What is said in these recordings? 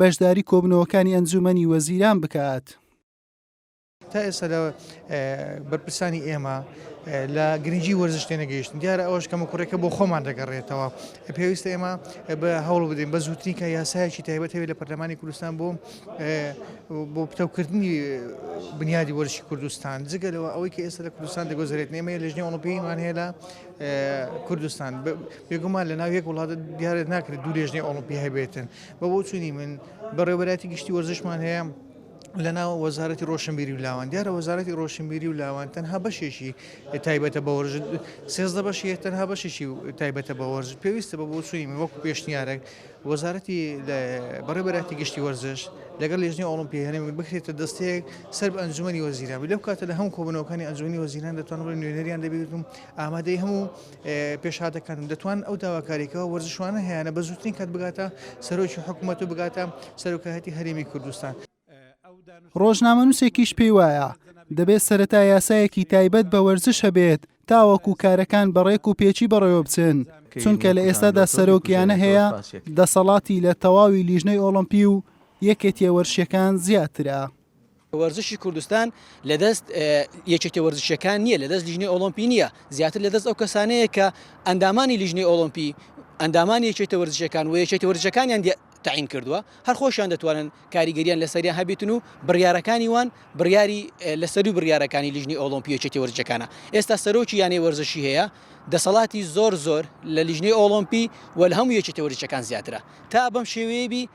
بەشداری کۆبنەوەکانی ئەنجومەنی وەزیران بکات. تا ئێستا لە بەرپرسانی ئێمە لە گرنگی وەرزش تێنەگەیشتن دیارە ئەوش کەمە کوڕێکە بۆ خۆمان دەگەڕێتەوە پێویستە ئێمە بە هەوڵ بدەین بە زووتنی کە یاسایەکی تایبەت هەوێت لە پەرلەمانی کوردستان بۆ بۆ پتەوکردنی بنیادی وەرشی کوردستان جگە لەوە ئەوەی کە ئێستا لە کوردستان دەگۆزرێت نێمە لەژنی ئۆڵمپیمان هەیە لە کوردستان بێگومان لە ناو یەک وڵاتە دیارە ناکرێت دوو لێژنەی ئۆڵمپی هەبێتن بە بۆچوونی من بەڕێوەبەرایەتی گشتی وەرزشمان هەیە لەناو وەزارەتی ڕۆشنبیری و لاوان دیارە وەزارەتی ڕۆشنبیری و لاوان تەنها بەشێکی تایبەتە بە وەرژ سێزدە بەشی تەنها بەشێکی تایبەتە بە وەرز پێویستە بە بۆچووی من وەکو پێشنیارێک وەزارەتی بەڕێبەراتی گشتی وەرزش لەگەڵ لێژنی ئۆڵمپی هەرێم بکرێتە دەستەیەک سەر ئەنجومی وەزیران لەو کاتە لە هەموو کۆبنەوەکانی ئەنجومی وەزیران دەتوان بڵێ نوێنەریان دەبێتم ئامادەی هەموو پێشهاتەکانم دەتوانن ئەو داواکاری کە وەرزشوانە هەیانە بە زووترین کات بگاتە سەرۆکی حکوومەت و بگاتە سەرۆکایەتی هەرێمی کوردستان. ڕۆژنامەنووسێکیش پێی وایە، دەبێت سەرەتا یاسایەکی تایبەت بە وەرزش هەبێت تاوەکو کارەکان بە ڕێک و پێکی بەڕێوە بچن، چونکە لە ئێستادا سەرۆک یانە هەیە دەسەڵاتی لە تەواوی لیژنەی ئۆڵۆمپی و یەکێتیە وەرشیەکان زیاترە. وەرزشی کوردستان لە دەست یەکێتیە وەرزشیەکان نییە لە دەست لیژنەی ئۆڵۆمپی نییە زیاتر لە دەست ئەو کەسانەیە کە ئەندامانی لیژنەی ئۆڵۆمپی ئەندامانی یەکێتە وەرزشەکان و یەکێتە وەرزشەکانیان تعین کردووە هەر خۆشیان دەتوانن کاریگەریان لەسەریان هەبیتن و بڕیارەکانی وان بڕیاری لەسەری بڕیارەکانی لیژنی ئۆلۆمپیەچێتی وەرجەکانە ئێستا سەرۆکی یانەی وەرزشی هەیە دەسەڵاتی زۆر زۆر لە لیژنەی ئۆڵۆمپی وەل هەموو یەکێتی وەرجەکان زیاترە تا بەم شێوەیەبی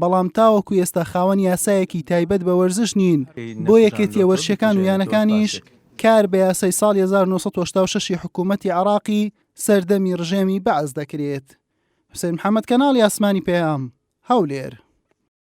بەڵام تاوەکو ئێستا خاوەن یاسایەکی تایبەت بە وەرزش نین بۆ یەکێتیە وەرشەکان و یانەکانیش کار بە یاسای ساڵی 1986 حکوومەتی عراقی سەردەمی ڕژێمی بەعس دەکرێت حوسێن محەممەد کەناڵی ئاسمانی پەیام هەولێر.